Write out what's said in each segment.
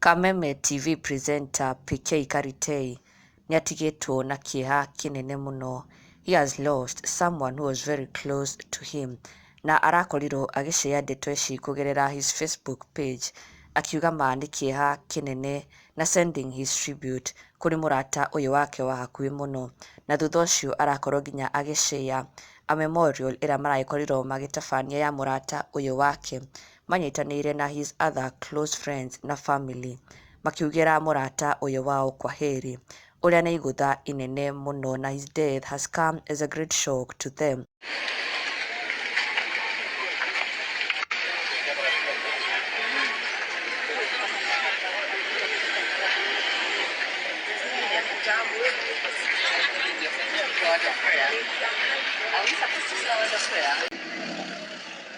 Kameme TV presenter PK Karitei nĩatigĩtwo na kĩeha kĩnene mũno. He has lost someone who was very close to him na arakorirwo agĩcare ndeto ici kũgerera his Facebook page akiuga ma nĩ kĩeha kĩnene na sending his tribute kũrĩ mũrata ũyũ wake wa hakuhĩ mũno, na thutha ũcio arakorwo nginya agĩ share a memorial ĩrĩa maragĩkorirwo magĩtabania ya mũrata ũyũ wake manyitanĩire na his other close friends na family makiugĩra mũrata ũyũ wao kwaheri Ũrĩa nĩ igũtha inene mũno, na his death has come as a great shock to them.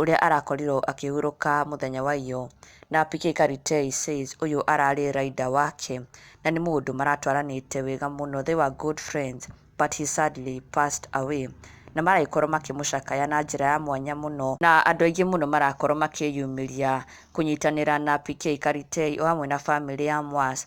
ũrĩa arakorirwo akĩhurũka mũthenya wa iyo na PK Karitei says ũyũ ararĩ rider wake na nĩ mũndũ maratwaranĩte wega mũno they were good friends but he sadly passed away na maragĩkorwo makĩmũcakaya na njĩra ya mwanya mũno na andũ aingĩ mũno marakorwo makĩyumĩria kũnyitanĩra na PK Karitei o hamwe na famĩlĩ ya Mwas.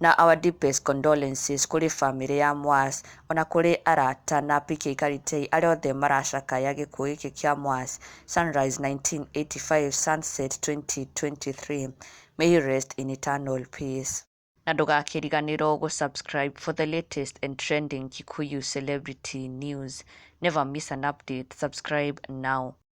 Na our deepest condolences kũrĩ famĩlĩ ya Mwas, ona kũrĩ arata na PK Karitei arĩa othe maracakaya gĩkuũ gĩkĩ kĩa Mwas, Sunrise 1985, Sunset 2023, May he rest in eternal peace. Na ndũgakĩriganĩrwo gũ subscribe for the latest and trending Kikuyu celebrity news. Never miss an update, subscribe now.